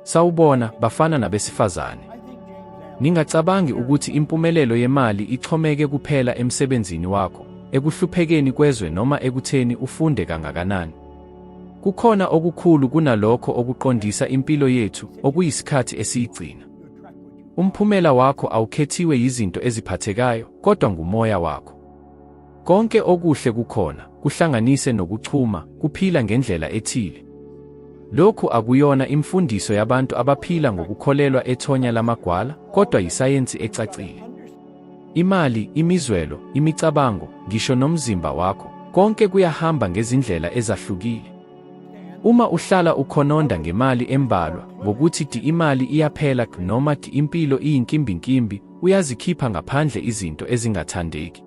Sawubona, bafana nabesifazane. Ningacabangi ukuthi impumelelo yemali ixhomeke kuphela emsebenzini wakho, ekuhluphekeni kwezwe noma ekutheni ufunde kangakanani. Kukhona okukhulu kunalokho okuqondisa impilo yethu, okuyisikhathi esiyigcina. Umphumela wakho awukhethiwe yizinto eziphathekayo, kodwa ngumoya wakho. Konke okuhle kukhona, kuhlanganise nokuchuma, kuphila ngendlela ethile. Lokhu akuyona imfundiso yabantu abaphila ngokukholelwa ethonya lamagwala, kodwa yisayensi ecacile. Imali, imizwelo, imicabango, ngisho nomzimba wakho, konke kuyahamba ngezindlela ezahlukile. Uma uhlala ukhononda ngemali embalwa, ngokuthi ti imali iyaphela noma ti impilo iyinkimbinkimbi, uyazikhipha ngaphandle izinto ezingathandeki.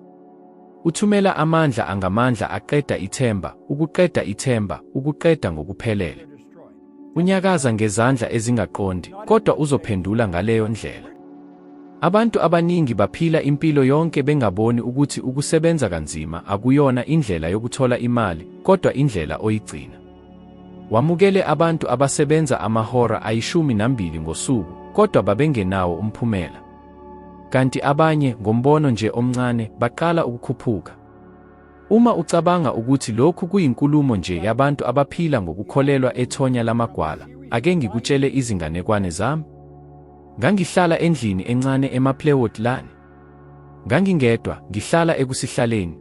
Uthumela amandla angamandla aqeda ithemba, ukuqeda ithemba, ukuqeda ngokuphelele. Unyakaza ngezandla ezingaqondi, kodwa uzophendula ngaleyo ndlela. Abantu abaningi baphila impilo yonke bengaboni ukuthi ukusebenza kanzima akuyona indlela yokuthola imali, kodwa indlela oyigcina. Wamukele abantu abasebenza amahora ayishumi nambili ngosuku, kodwa babengenawo umphumela. Kanti abanye, ngombono nje omncane, baqala ukukhuphuka. Uma ucabanga ukuthi lokhu kuyinkulumo nje yabantu abaphila ngokukholelwa ethonya lamagwala, ake ngikutshele izinganekwane zami. Ngangihlala endlini encane eMaplewood Lane. Ngangingedwa, ngihlala ekusihlaleni.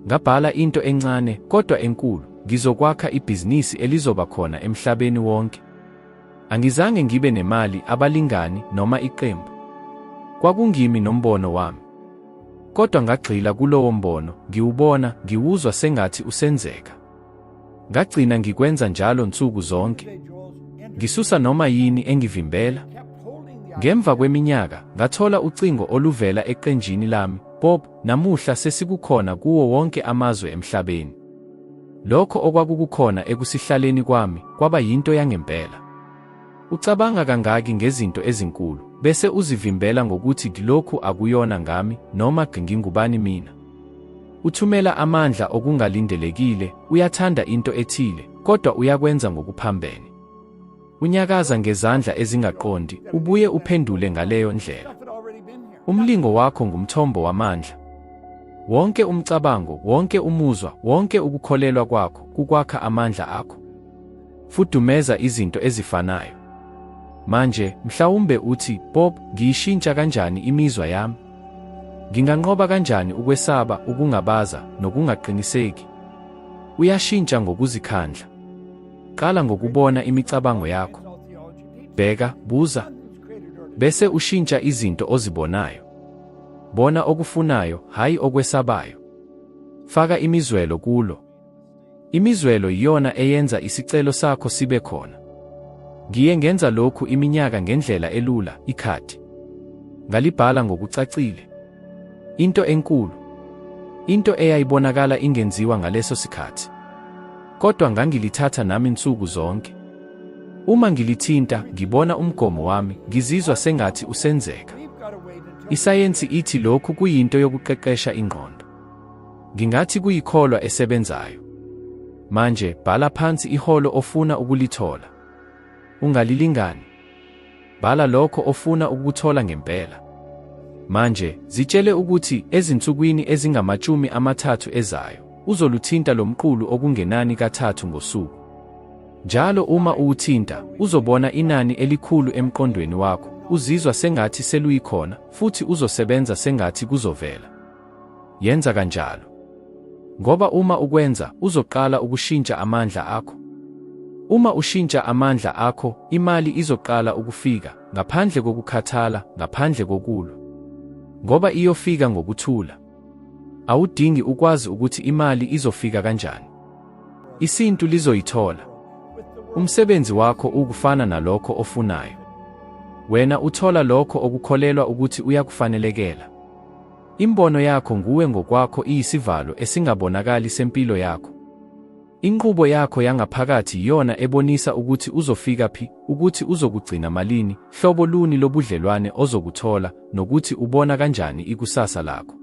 Ngabhala into encane kodwa enkulu, ngizokwakha ibhizinisi elizoba khona emhlabeni wonke. Angizange ngibe nemali, abalingani noma iqembu. Kwakungimi nombono wami. Kodwa ngagxila kulowo mbono, ngiwubona, ngiwuzwa sengathi usenzeka. Ngagcina ngikwenza njalo nsuku zonke. Ngisusa noma yini engivimbela. Ngemva kweminyaka, ngathola ucingo oluvela eqenjini lami, Bob, namuhla sesikukhona kuwo wonke amazwe emhlabeni. Lokho okwakukukhona ekusihlaleni kwami kwaba yinto yangempela. Ucabanga kangaki ngezinto ezinkulu, bese uzivimbela ngokuthi lokhu akuyona ngami noma ngingubani mina. Uthumela amandla okungalindelekile, uyathanda into ethile, kodwa uyakwenza ngokuphambene. Unyakaza ngezandla ezingaqondi, ubuye uphendule ngaleyo ndlela. Umlingo wakho ngumthombo wamandla. Wonke umcabango, wonke umuzwa, wonke ukukholelwa kwakho kukwakha amandla akho. Fudumeza izinto ezifanayo. Manje, mhlawumbe uthi, Bob, ngiyishintsha kanjani imizwa yami? Nginganqoba kanjani ukwesaba, ukungabaza, nokungaqiniseki? Uyashintsha ngokuzikhandla. Qala ngokubona imicabango yakho. Bheka, buza, bese ushintsha izinto ozibonayo. Bona okufunayo, hhayi okwesabayo. Faka imizwelo kulo. Imizwelo iyona eyenza isicelo sakho sibe khona. Ngiye ngenza lokhu iminyaka ngendlela elula, ikhathi. Ngalibhala ngokucacile. Into enkulu, into eyayibonakala ingenziwa ngaleso sikhathi, kodwa ngangilithatha nami nsuku zonke. Uma ngilithinta, ngibona umgomo wami, ngizizwa sengathi usenzeka. Isayensi ithi lokhu kuyinto yokuqeqesha ingqondo. Ngingathi kuyikholwa esebenzayo. Manje bhala phansi iholo ofuna ukulithola. Ungalilingani? Bhala lokho ofuna ukukuthola ngempela. Manje, zitshele ukuthi ezinsukwini ezingamashumi amathathu ezayo, uzoluthinta lo mqulu okungenani kathathu ngosuku. Njalo uma uwuthinta, uzobona inani elikhulu emqondweni wakho, uzizwa sengathi seluyikhona, futhi uzosebenza sengathi kuzovela. Yenza kanjalo. Ngoba uma ukwenza, uzoqala ukushintsha amandla akho. Uma ushintsha amandla akho, imali izoqala ukufika, ngaphandle kokukhathala, ngaphandle kokulwa. Ngoba iyofika ngokuthula. Awudingi ukwazi ukuthi imali izofika kanjani. Isintu lizoyithola. Umsebenzi wakho ukufana nalokho ofunayo. Wena uthola lokho okukholelwa ukuthi uyakufanelekela. Imbono yakho nguwe ngokwakho iyisivalo esingabonakali sempilo yakho. Inqubo yakho yangaphakathi iyona ebonisa ukuthi uzofika phi, ukuthi uzokugcina malini, hlobo luni lobudlelwane ozokuthola, nokuthi ubona kanjani ikusasa lakho.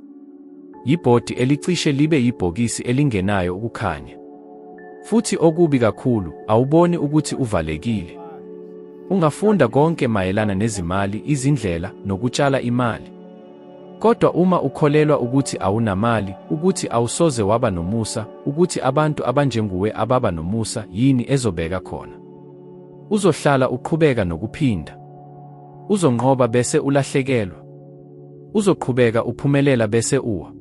Yibhodi elicishe libe yibhokisi elingenayo ukukhanya. Futhi okubi kakhulu, awuboni ukuthi uvalekile. Ungafunda konke mayelana nezimali, izindlela, nokutshala imali. Kodwa uma ukholelwa ukuthi awunamali, ukuthi awusoze waba nomusa, ukuthi abantu abanjenguwe ababa nomusa, yini ezobeka khona? Uzohlala uqhubeka nokuphinda. Uzonqoba bese ulahlekelwa. Uzoqhubeka uphumelela bese uwa.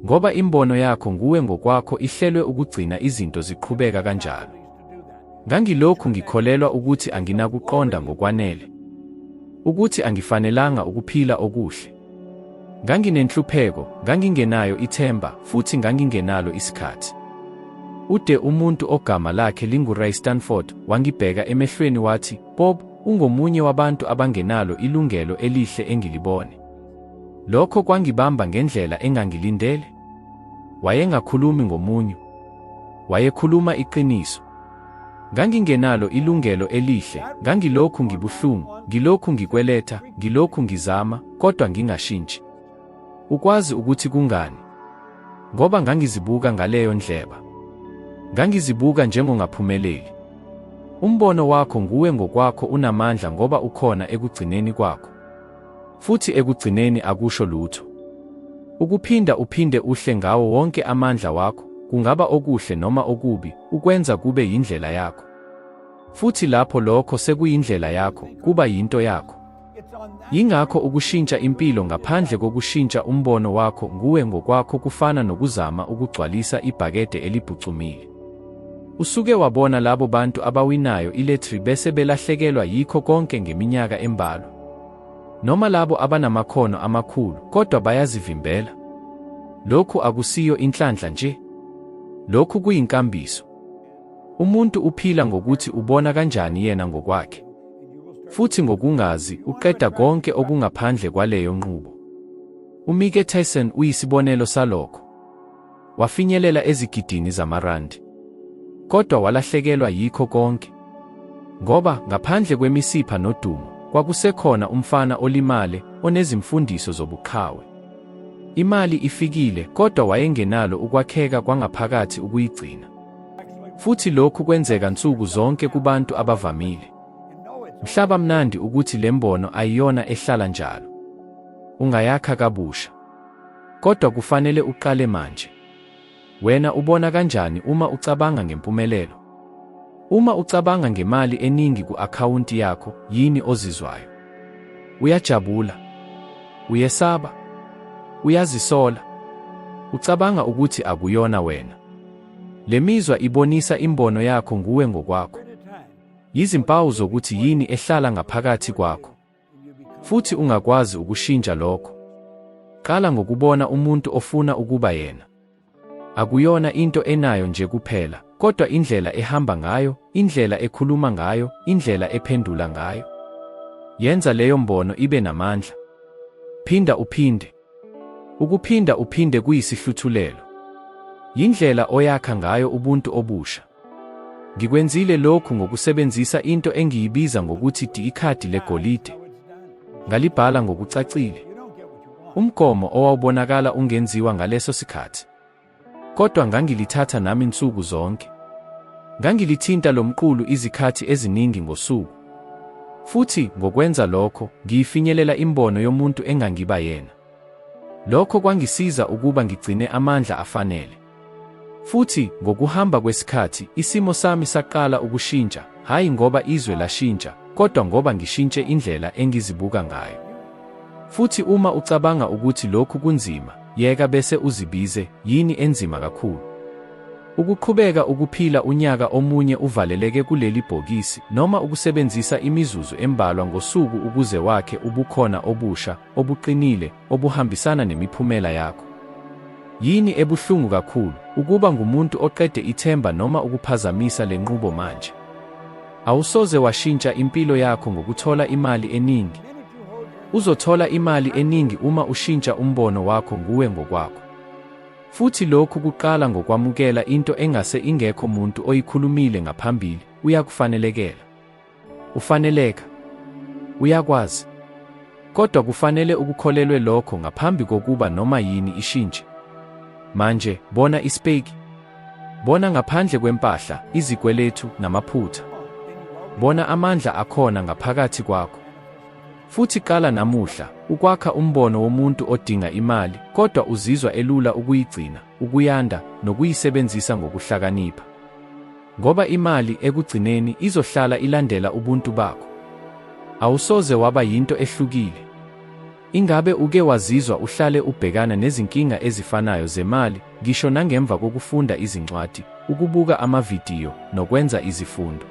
Ngoba imbono yakho nguwe ngokwakho ihlelwe ukugcina izinto ziqhubeka kanjalo. Ngangilokhu ngikholelwa ukuthi anginakuqonda ngokwanele, ukuthi angifanelanga ukuphila okuhle. Nganginenhlupheko, ngangingenayo ithemba, futhi ngangingenalo isikhathi. Ude umuntu ogama lakhe linguRay Stanford wangibheka emehlweni wathi, Bob, ungomunye wabantu abangenalo ilungelo elihle engilibone. Lokho kwangibamba ngendlela engangilindele. Wayengakhulumi ngomunyu. Wayekhuluma iqiniso. Ngangingenalo ilungelo elihle, ngangilokhu ngibuhlungu, ngilokhu ngikweletha, ngilokhu ngizama, kodwa ngingashintshi. Ukwazi ukuthi kungani? Ngoba ngangizibuka ngaleyo ndleba. Ngangizibuka njengongaphumeleli. Umbono wakho nguwe ngokwakho unamandla ngoba ukhona ekugcineni kwakho. Futhi ekugcineni akusho lutho. Ukuphinda uphinde uhle ngawo wonke amandla wakho, kungaba okuhle noma okubi, ukwenza kube yindlela yakho. Futhi lapho lokho sekuyindlela yakho, kuba yinto yakho. Yingakho ukushintsha impilo ngaphandle kokushintsha umbono wakho nguwe ngokwakho kufana nokuzama ukugcwalisa ibhakede elibhucumile. Usuke wabona labo bantu abawinayo iletri bese belahlekelwa yikho konke ngeminyaka embalwa. Noma labo abanamakhono amakhulu kodwa bayazivimbela. Lokhu akusiyo inhlanhla nje. Lokhu kuyinkambiso. Umuntu uphila ngokuthi ubona kanjani yena ngokwakhe. Futhi ngokungazi uqeda konke okungaphandle kwaleyo nqubo. UMike Tyson uyisibonelo salokho. wafinyelela ezigidini zamarandi. Kodwa walahlekelwa yikho konke. Ngoba ngaphandle kwemisipha nodumo, kwakusekhona umfana olimale onezimfundiso zobuqhawe. Imali ifikile kodwa wayengenalo ukwakheka kwangaphakathi ukuyigcina. Futhi lokhu kwenzeka nsuku zonke kubantu abavamile. Mhlaba mnandi ukuthi le mbono ayiyona ehlala njalo. Ungayakha kabusha. Kodwa kufanele uqale manje. Wena ubona kanjani uma ucabanga ngempumelelo? Uma ucabanga ngemali eningi ku-akhawunti yakho, yini ozizwayo? Uyajabula? Uyesaba? Uyazisola? Ucabanga ukuthi akuyona wena? Le mizwa ibonisa imbono yakho nguwe ngokwakho. Yizimpawu zokuthi yini ehlala ngaphakathi kwakho. Futhi ungakwazi ukushintsha lokho. Qala ngokubona umuntu ofuna ukuba yena. Akuyona into enayo nje kuphela, kodwa indlela ehamba ngayo, indlela ekhuluma ngayo, indlela ephendula ngayo. Yenza leyo mbono ibe namandla. Phinda uphinde. Ukuphinda uphinde kuyisihluthulelo. Yindlela oyakha ngayo ubuntu obusha. Ngikwenzile lokhu ngokusebenzisa into engiyibiza ngokuthi ikhadi legolide. Ngalibhala ngokucacile. Umgomo owawubonakala ungenziwa ngaleso sikhathi. Kodwa ngangilithatha nami nsuku zonke. Ngangilithinta lo mqulu izikhathi eziningi ngosuku. Futhi ngokwenza lokho, ngiyifinyelela imbono yomuntu engangiba yena. Lokho kwangisiza ukuba ngigcine amandla afanele. Futhi ngokuhamba kwesikhathi isimo sami saqala ukushintsha, hhayi ngoba izwe lashintsha, kodwa ngoba ngishintshe indlela engizibuka ngayo. Futhi uma ucabanga ukuthi lokhu kunzima, yeka bese uzibize, yini enzima kakhulu? Ukuqhubeka ukuphila unyaka omunye uvaleleke kuleli bhokisi noma ukusebenzisa imizuzu embalwa ngosuku ukuze wakhe ubukhona obusha obuqinile obuhambisana nemiphumela yakho. Yini ebuhlungu kakhulu, ukuba ngumuntu oqede ithemba noma ukuphazamisa le nqubo manje? Awusoze washintsha impilo yakho ngokuthola imali eningi. Uzothola imali eningi uma ushintsha umbono wakho nguwe ngokwakho. Futhi lokhu kuqala ngokwamukela into engase ingekho muntu oyikhulumile ngaphambili, uyakufanelekela. Ufaneleka. Uyakwazi. Kodwa kufanele ukukholelwe lokho ngaphambi kokuba noma yini ishintshe. Manje, bona isipeki. Bona ngaphandle kwempahla, izikweletu, namaphutha. Bona amandla akhona ngaphakathi kwakho. Futhi qala namuhla, ukwakha umbono womuntu odinga imali, kodwa uzizwa elula ukuyigcina, ukuyanda, nokuyisebenzisa ngokuhlakanipha. Ngoba imali ekugcineni izohlala ilandela ubuntu bakho. Awusoze waba yinto ehlukile. Ingabe uke wazizwa uhlale ubhekana nezinkinga ezifanayo zemali, ngisho nangemva kokufunda izincwadi, ukubuka amavidiyo, nokwenza izifundo?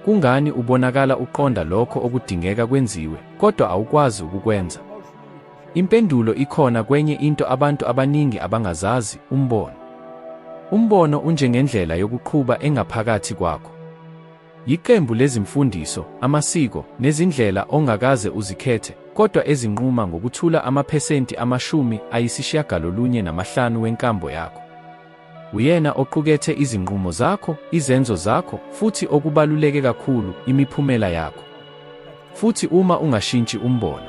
Kungani ubonakala uqonda lokho okudingeka kwenziwe, kodwa awukwazi ukukwenza? Impendulo ikhona kwenye into abantu abaningi abangazazi, umbono. Umbono unjengendlela yokuqhuba engaphakathi kwakho. Yiqembu lezimfundiso, amasiko, nezindlela ongakaze uzikhethe, kodwa ezinquma ngokuthula amaphesenti amashumi ayisishiyagalolunye namahlanu wenkambo yakho. Uyena oqukethe izinqumo zakho, izenzo zakho, futhi okubaluleke kakhulu, imiphumela yakho. Futhi uma ungashintshi umbono,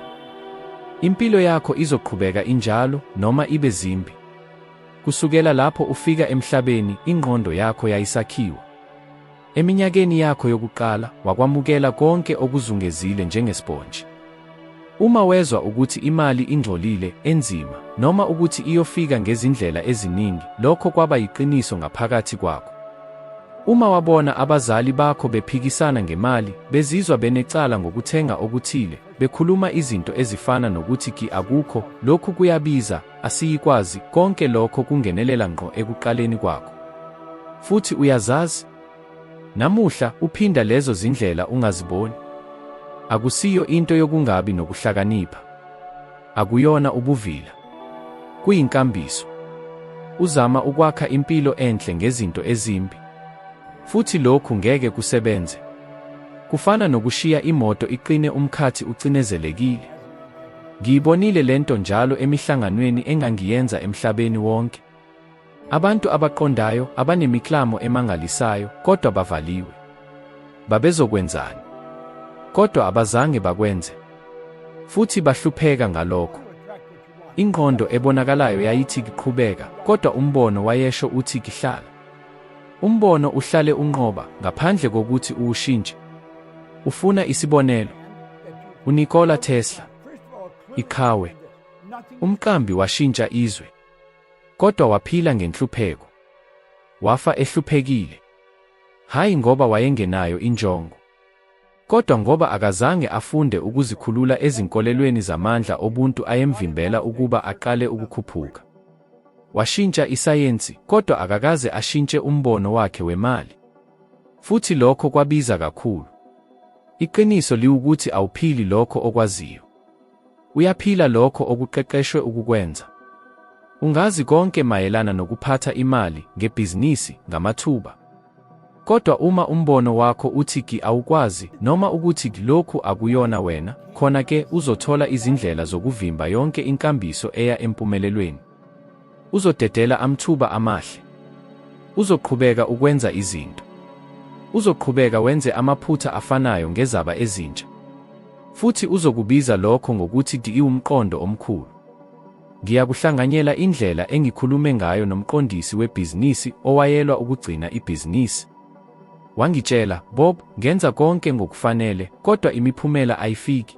impilo yakho izoqhubeka injalo noma ibe zimbi. Kusukela lapho ufika emhlabeni, ingqondo yakho yayisakhiwa. Eminyakeni yakho yokuqala, wakwamukela konke okuzungezile njengesponji. Uma wezwa ukuthi imali ingcolile, enzima, noma ukuthi iyofika ngezindlela eziningi, lokho kwaba yiqiniso ngaphakathi kwakho. Uma wabona abazali bakho bephikisana ngemali, bezizwa benecala ngokuthenga okuthile, bekhuluma izinto ezifana nokuthi ki akukho, lokhu kuyabiza, asiyikwazi, konke lokho kungenelela ngqo ekuqaleni kwakho. Futhi uyazazi, namuhla uphinda lezo zindlela ungaziboni. Akusiyo into yokungabi nokuhlakanipha. Akuyona ubuvila. Kuyinkambiso. Uzama ukwakha impilo enhle ngezinto ezimbi. Futhi lokhu ngeke kusebenze. Kufana nokushiya imoto iqine umkhathi ucinezelekile. Ngiyibonile lento njalo emihlanganweni engangiyenza emhlabeni wonke. Abantu abaqondayo abanemiklamo emangalisayo kodwa bavaliwe. Babezokwenzani? Kodwa abazange bakwenze. Futhi bahlupheka ngalokho. Ingqondo ebonakalayo yayithi kiqhubeka, kodwa umbono wayesho uthi kihlala. Umbono uhlale unqoba ngaphandle kokuthi uwushintshe. Ufuna isibonelo. UNikola Tesla, iqhawe, umqambi washintsha izwe, kodwa waphila ngenhlupheko. Wafa ehluphekile, hhayi ngoba wayengenayo injongo. Kodwa ngoba akazange afunde ukuzikhulula ezinkolelweni zamandla obuntu ayemvimbela ukuba aqale ukukhuphuka. Washintsha isayensi, kodwa akakaze ashintshe umbono wakhe wemali. Futhi lokho kwabiza kakhulu. Iqiniso liwukuthi awuphili lokho okwaziyo. Uyaphila lokho okuqeqeshwe ukukwenza. Ungazi konke mayelana nokuphatha imali, ngebhizinisi, ngamathuba. Kodwa uma umbono wakho uthi ki awukwazi noma ukuthi lokhu akuyona wena, khona ke uzothola izindlela zokuvimba yonke inkambiso eya empumelelweni. Uzodedela amthuba amahle. Uzoqhubeka ukwenza izinto. Uzoqhubeka wenze amaphutha afanayo ngezaba ezintsha. Futhi uzokubiza lokho ngokuthi diiwumqondo omkhulu. Ngiyakuhlanganyela indlela engikhulume ngayo nomqondisi webhizinisi owayelwa ukugcina ibhizinisi. Wangitshela, Bob, ngenza konke ngokufanele, kodwa imiphumela ayifiki.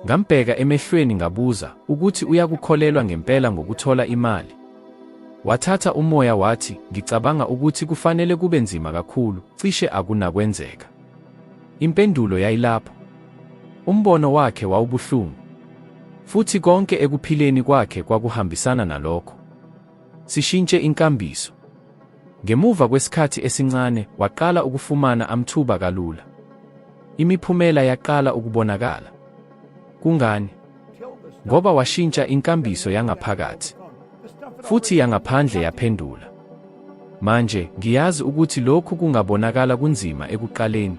Ngambheka emehlweni ngabuza ukuthi uyakukholelwa ngempela ngokuthola imali. Wathatha umoya wathi, ngicabanga ukuthi kufanele kube nzima kakhulu, cishe akunakwenzeka. Impendulo yayilapho. Umbono wakhe wawubuhlungu. Futhi konke ekuphileni kwakhe kwakuhambisana nalokho. Sishintshe inkambiso. Ngemuva kwesikhathi esincane, waqala ukufumana amthuba kalula. Imiphumela yaqala ukubonakala. Kungani? Ngoba washintsha inkambiso yangaphakathi, futhi yangaphandle yaphendula. Manje, ngiyazi ukuthi lokhu kungabonakala kunzima ekuqaleni.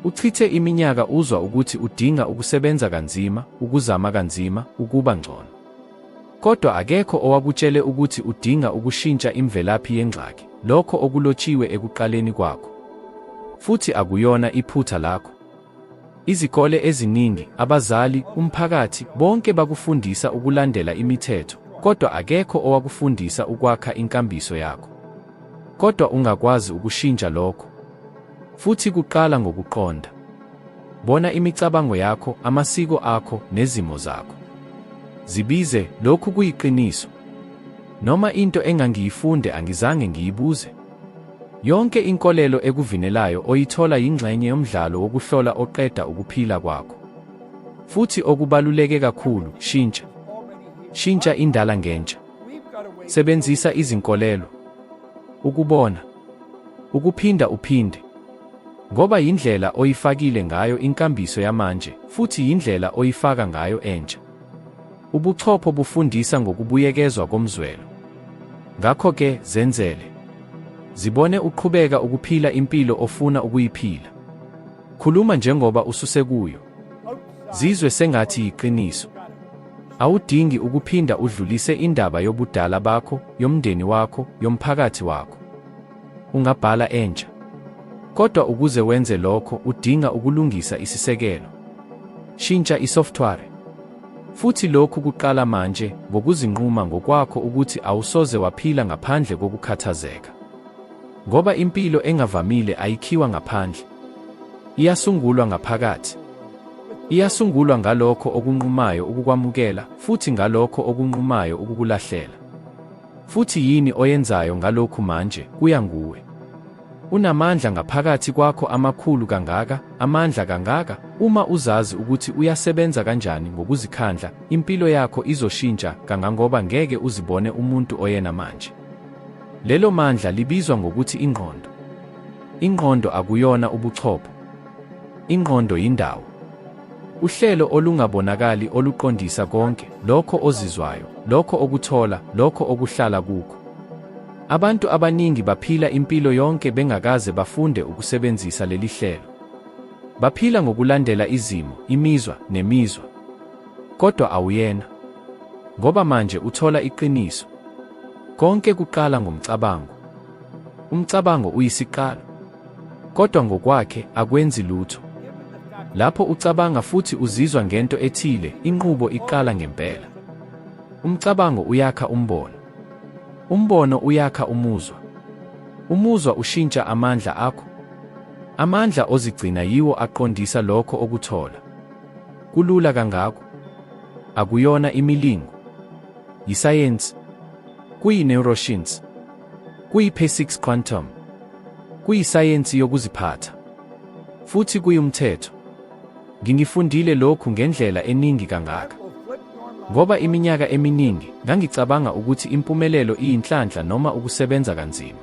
Uchithe iminyaka uzwa ukuthi udinga ukusebenza kanzima, ukuzama kanzima, ukuba ngcono. Kodwa akekho owakutshele ukuthi udinga ukushintsha imvelaphi yengxaki, lokho okulotshiwe ekuqaleni kwakho. Futhi akuyona iphutha lakho. Izikole eziningi, abazali, umphakathi, bonke bakufundisa ukulandela imithetho, kodwa akekho owakufundisa ukwakha inkambiso yakho. Kodwa ungakwazi ukushintsha lokho. Futhi kuqala ngokuqonda. Bona imicabango yakho, amasiko akho, nezimo zakho. Zibize, lokhu kuyiqiniso. Noma into engangiyifunde angizange ngiyibuze. Yonke inkolelo ekuvinelayo oyithola yingxenye yomdlalo wokuhlola oqeda ukuphila kwakho. Futhi okubaluleke kakhulu, shintsha. Shintsha indala ngentsha. Sebenzisa izinkolelo. Ukubona. Ukuphinda uphinde. Ngoba yindlela oyifakile ngayo inkambiso yamanje, futhi yindlela oyifaka ngayo entsha. Ubuchopho bufundisa ngokubuyekezwa komzwelo. Ngakho-ke, zenzele. Zibone uqhubeka ukuphila impilo ofuna ukuyiphila. Khuluma njengoba ususekuyo. Zizwe sengathi yiqiniso. Awudingi ukuphinda udlulise indaba yobudala bakho, yomndeni wakho, yomphakathi wakho. Ungabhala entsha. Kodwa ukuze wenze lokho udinga ukulungisa isisekelo. Shintsha isoftware. Futhi lokhu kuqala manje ngokuzinquma ngokwakho ukuthi awusoze waphila ngaphandle kokukhathazeka. Ngoba impilo engavamile ayikhiwa ngaphandle. Iyasungulwa ngaphakathi. Iyasungulwa ngalokho okunqumayo ukukwamukela futhi ngalokho okunqumayo ukukulahlela. Futhi yini oyenzayo ngalokhu manje kuya nguwe. Unamandla ngaphakathi kwakho amakhulu kangaka, amandla kangaka, uma uzazi ukuthi uyasebenza kanjani ngokuzikhandla, impilo yakho izoshintsha kangangoba ngeke uzibone umuntu oyena manje. Lelo mandla libizwa ngokuthi ingqondo. Ingqondo akuyona ubuchopho. Ingqondo yindawo. Uhlelo olungabonakali oluqondisa konke, lokho ozizwayo, lokho okuthola, lokho okuhlala kukho. Abantu abaningi baphila impilo yonke bengakaze bafunde ukusebenzisa leli hlelo. Baphila ngokulandela izimo, imizwa, nemizwa. Kodwa awuyena. Ngoba manje uthola iqiniso. Konke kuqala ngomcabango. Umcabango uyisiqalo, kodwa ngokwakhe akwenzi lutho. Lapho ucabanga futhi uzizwa ngento ethile, inqubo iqala ngempela. Umcabango uyakha umbono, umbono uyakha umuzwa, umuzwa ushintsha amandla akho. Amandla ozigcina yiwo aqondisa lokho okuthola. Kulula kangako. Akuyona imilingo. Yisayensi. Kuyi-neuroscience. Kuyi-P6 Quantum. Kuyisayensi yokuziphatha. Futhi kuyumthetho. Ngingifundile lokhu ngendlela eningi kangaka. Ngoba iminyaka eminingi ngangicabanga ukuthi impumelelo iyinhlanhla noma ukusebenza kanzima.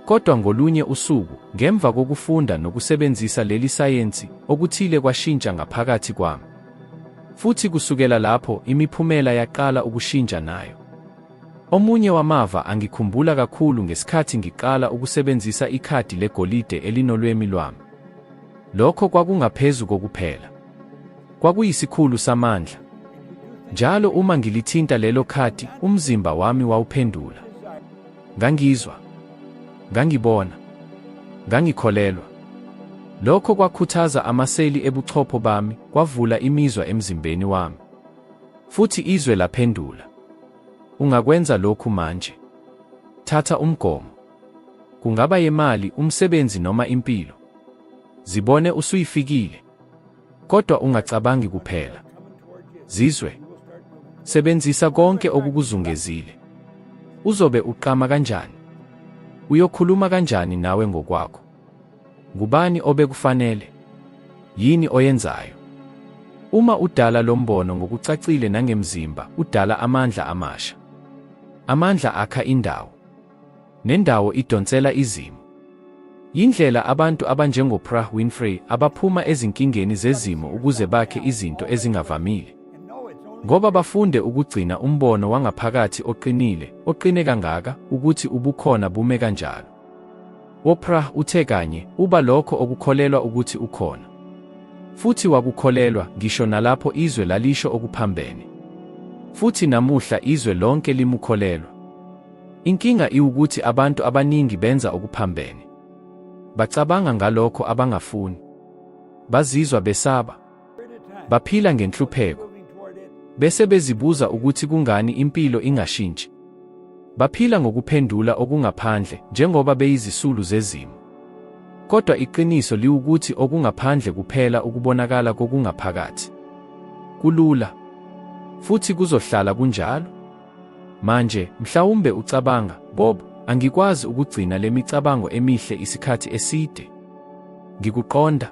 Kodwa ngolunye usuku, ngemva kokufunda nokusebenzisa leli sayensi, okuthile kwashintsha ngaphakathi kwami. Futhi kusukela lapho, imiphumela yaqala ukushintsha nayo. Omunye wamava angikhumbula kakhulu ngesikhathi ngiqala ukusebenzisa ikhadi legolide elinolwemi lwami. Lokho kwakungaphezu kokuphela. Kwakuyisikhulu samandla. Njalo uma ngilithinta lelo khadi, umzimba wami wawuphendula. Ngangizwa. Ngangibona. Ngangikholelwa. Lokho kwakhuthaza amaseli ebuchopho bami, kwavula imizwa emzimbeni wami. Futhi izwe laphendula, Ungakwenza lokhu manje. Thatha umgomo. Kungaba yemali, umsebenzi noma impilo. Zibone usuyifikile. Kodwa ungacabangi kuphela. Zizwe. Sebenzisa konke okukuzungezile. Uzobe uqama kanjani? Uyokhuluma kanjani nawe ngokwakho? Ngubani obekufanele? Yini oyenzayo? Uma udala lo mbono ngokucacile nangemzimba, udala amandla amasha. Amandla akha indawo. Nendawo idonsela izimo. Yindlela abantu abanjengoPrah Winfrey abaphuma ezinkingeni zezimo ukuze bakhe izinto ezingavamile. Ngoba bafunde ukugcina umbono wangaphakathi oqinile, oqine kangaka ukuthi ubukhona bume kanjalo. Oprah uthe kanye uba lokho okukholelwa ukuthi ukhona. Futhi wakukholelwa ngisho nalapho izwe lalisho okuphambene. Futhi namuhla izwe lonke limukholelwa. Inkinga iwukuthi abantu abaningi benza okuphambene. Bacabanga ngalokho abangafuni. Bazizwa besaba. Baphila ngenhlupheko. Bese bezibuza ukuthi kungani impilo ingashintshi. Baphila ngokuphendula okungaphandle njengoba beyizisulu zezimo. Kodwa iqiniso liwukuthi okungaphandle kuphela ukubonakala kokungaphakathi. Kulula. Futhi kuzohlala kunjalo. Manje, mhlawumbe ucabanga, Bob, angikwazi ukugcina lemicabango emihle isikhathi eside. Ngikuqonda.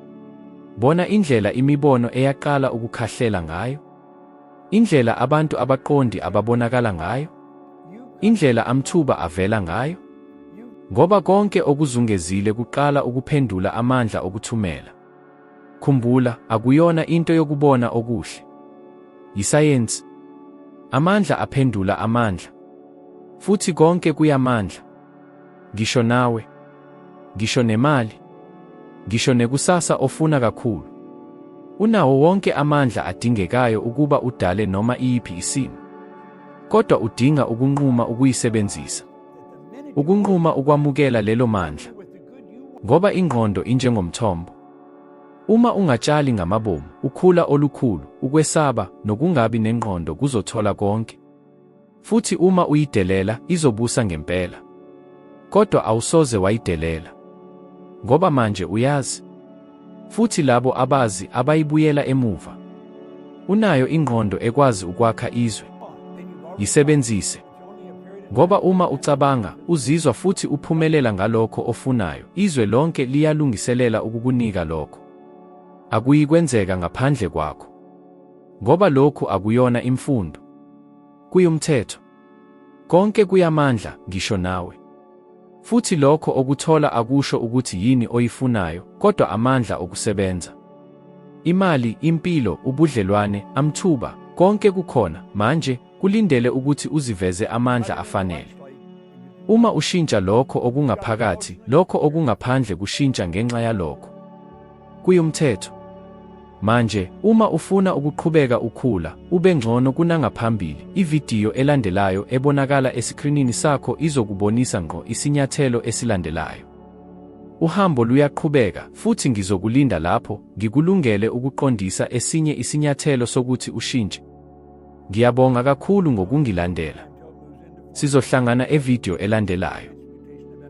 Bona indlela imibono eyaqala ukukhahlela ngayo, indlela abantu abaqondi ababonakala ngayo, indlela amthuba avela ngayo, ngoba konke okuzungezile kuqala ukuphendula amandla okuthumela. Khumbula, akuyona into yokubona okuhle. Yisayensi. Amandla aphendula amandla. Futhi konke kuyamandla. Ngisho nawe. Ngisho nemali. Ngisho nekusasa ofuna kakhulu. Unawo wonke amandla adingekayo ukuba udale noma iyiphi isimo. Kodwa udinga ukunquma ukuyisebenzisa. Ukunquma ukwamukela lelo mandla. Ngoba ingqondo injengomthombo. Uma ungatshali ngamabomu, ukhula olukhulu, ukwesaba, nokungabi nengqondo kuzothola konke. Futhi uma uyidelela, izobusa ngempela. Kodwa awusoze wayidelela. Ngoba manje uyazi. Futhi labo abazi abayibuyela emuva. Unayo ingqondo ekwazi ukwakha izwe. Yisebenzise. Ngoba uma ucabanga, uzizwa futhi uphumelela ngalokho ofunayo, izwe lonke liyalungiselela ukukunika lokho. Akuyikwenzeka ngaphandle kwakho. Ngoba lokhu akuyona imfundo. Kuyumthetho. Konke kuyamandla, ngisho nawe. Futhi lokho okuthola akusho ukuthi yini oyifunayo, kodwa amandla okusebenza. Imali, impilo, ubudlelwane, amthuba, konke kukhona, manje, kulindele ukuthi uziveze amandla afanele. Uma ushintsha lokho okungaphakathi, lokho okungaphandle kushintsha ngenxa yalokho. Kuyumthetho. Manje, uma ufuna ukuqhubeka ukhula, ube ngcono kunangaphambili, ividiyo elandelayo ebonakala esikrinini sakho izokubonisa ngqo isinyathelo esilandelayo. Uhambo luyaqhubeka, futhi ngizokulinda lapho, ngikulungele ukuqondisa esinye isinyathelo sokuthi ushintshe. Ngiyabonga kakhulu ngokungilandela. Sizohlangana evidiyo elandelayo.